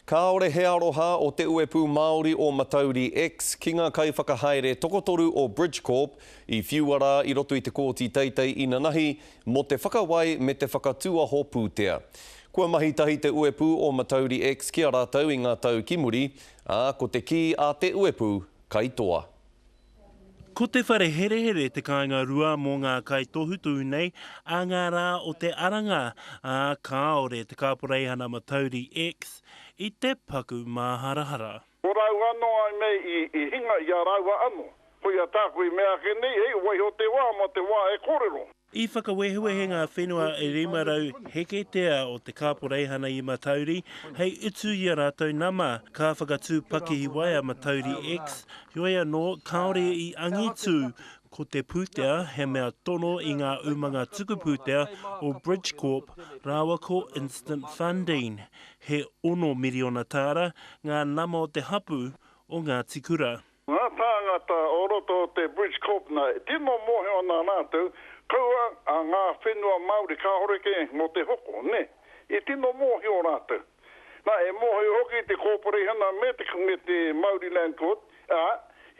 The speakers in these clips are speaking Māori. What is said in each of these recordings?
Kāore he aroha o Te Uepū Māori o Matauri X ki ngā kaiwhakahaere tokotoru o Bridgecorp i whiua rā i roto i te Kōti Teitei Inanahi mō te whakawai me te whakatūaho pūtea. Kua mahi tahi Te Uepū o Matauri X ki a rātou i ngā tau ki muri, ā, ko te kī a Te Uepū, kai toa. Ko te whare herehere te kāinga rua mō ngā kaitohutohu nei a ngā rā o te aranga, ā, kāore te Kāporeihana Matauri X i te paku māharahara. Ko rāua anō ai me i hinga i a rāua anō. Koia tāku i mea ake nei, hei waiho te wā mō te wā e kōrero. I whakawehewehe ngā whenua 500 heketea o te kāporeihana i Matauri hei utu i a rātou nama, ka whakatū pakihi wai a Matauri X, heoi anō, kāore i angitū ko te pūtea he mea tono i ngā umanga tuku pūtea o Bridgecorp rāua ko Instant Funding. He ono miriona tāra ngā nama o te hapū o Ngāti Kura. Ngā tāngata o roto o te Bridge Corp nā e tino mōhio ana rātou, kaua a ngā whenua Māori kāore kē mō te hoko, nē, i tino mōhio rātou. Nā, e mōhio hoki te kōpareihana me te me te Māori Land Court, ā,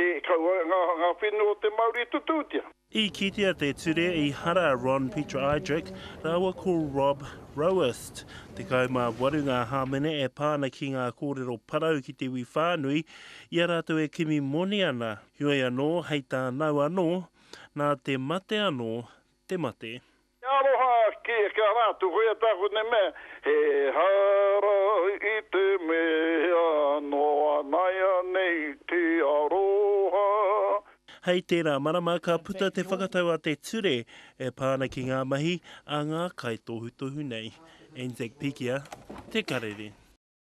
he kaua ngā whenua o te Māori i tutūtia. I kitea te ture i hara Ron Pietro-Idrik rāua ko Rob Roast, 18 ngā hāmene e pā ana ki ngā kōrero parau ki te iwi whānui, i a rātou e kimi moni ana, heoi anō, hei tānau anō, nā te mate anō te mate. He aroha ki a kia rātou hoi a tāku nei mea, He hara i te mea noa naianei te aroha. Hei tērā marama ka puta te whakatau a te ture e pā ana ki ngā mahi a ngā kaitohutohu nei. Anzac Pikia, Te Karere.